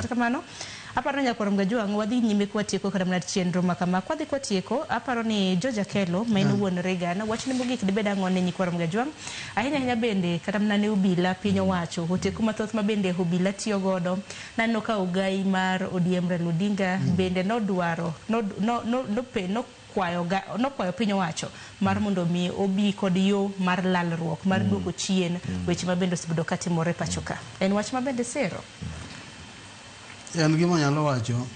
Kata kamano, aparo ni Nyakwar Mgajwang' wadhi nyime ka watieko kata mana chenro ma kama. Kwadhi ka watieko, aparo ni George Akello ma en wuon Reagan, wachne mogik dibed ang'o ne Nyikwar Mgajwang'? Ahinya ahinya bende kata mana ne obila, piny owacho, oteku mathoth ma bende obila tiyo godo. Naneno ka ogayi mar ODM Raila Odinga bende nodwaro, nod, no, no, nope, no, kwayoga nokwayo piny owacho mar mondo omi obi kod yo mar lalruok mar duoko chien weche ma bende osebedo ka timore pacho ka. En wach ma bende sero. En gima anyalo wacho,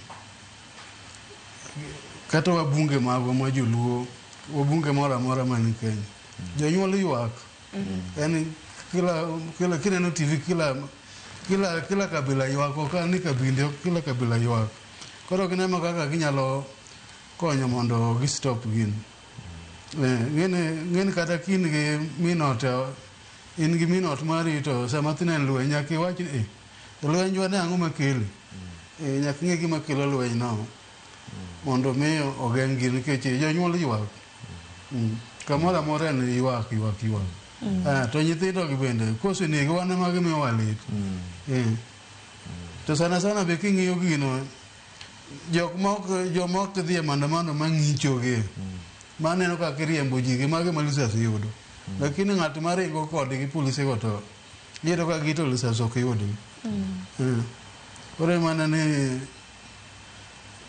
kata wabunge magwa ma joluo, wabunge moro amora man Kenya, jonyuol ywak. Yani kila, kila, kineno TV kila, kila, kila kabila ywak, ok an ni kabinde, kila kabila ywak. Koro gineno kaka ginyalo konyo mondo gi stop gin eh, ng'ene ng'ene kata kin gi minot eh, in gi minot mari to sama tine lweny nyaka iwach ni eh, lweny jwa ne ang'o makele eh, nyaka ing'e gima kelo lweny no mondo mi ogeng' gin nikech eh, jonyuol ywak Mm. kamoro amora en ywak ywak ywak Ah, to nyithindo gi bende kosenegi wan ema gimiwa lit Eh. to sana sana be king'iyo gino Jok mok joma ok dhi e maandamano ma ng'icho gi. Ma neno ka kiriembo ji gi magi ma lisas yudo. Lakini ng'at ma ringo kodgi polise go to iyudo ka gito lisas ok yudgi. Eh. Koro e mana ni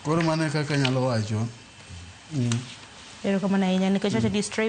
koro mana e kaka anyalo wacho. Mm. Erokamano ahinya nikech wacho ni stray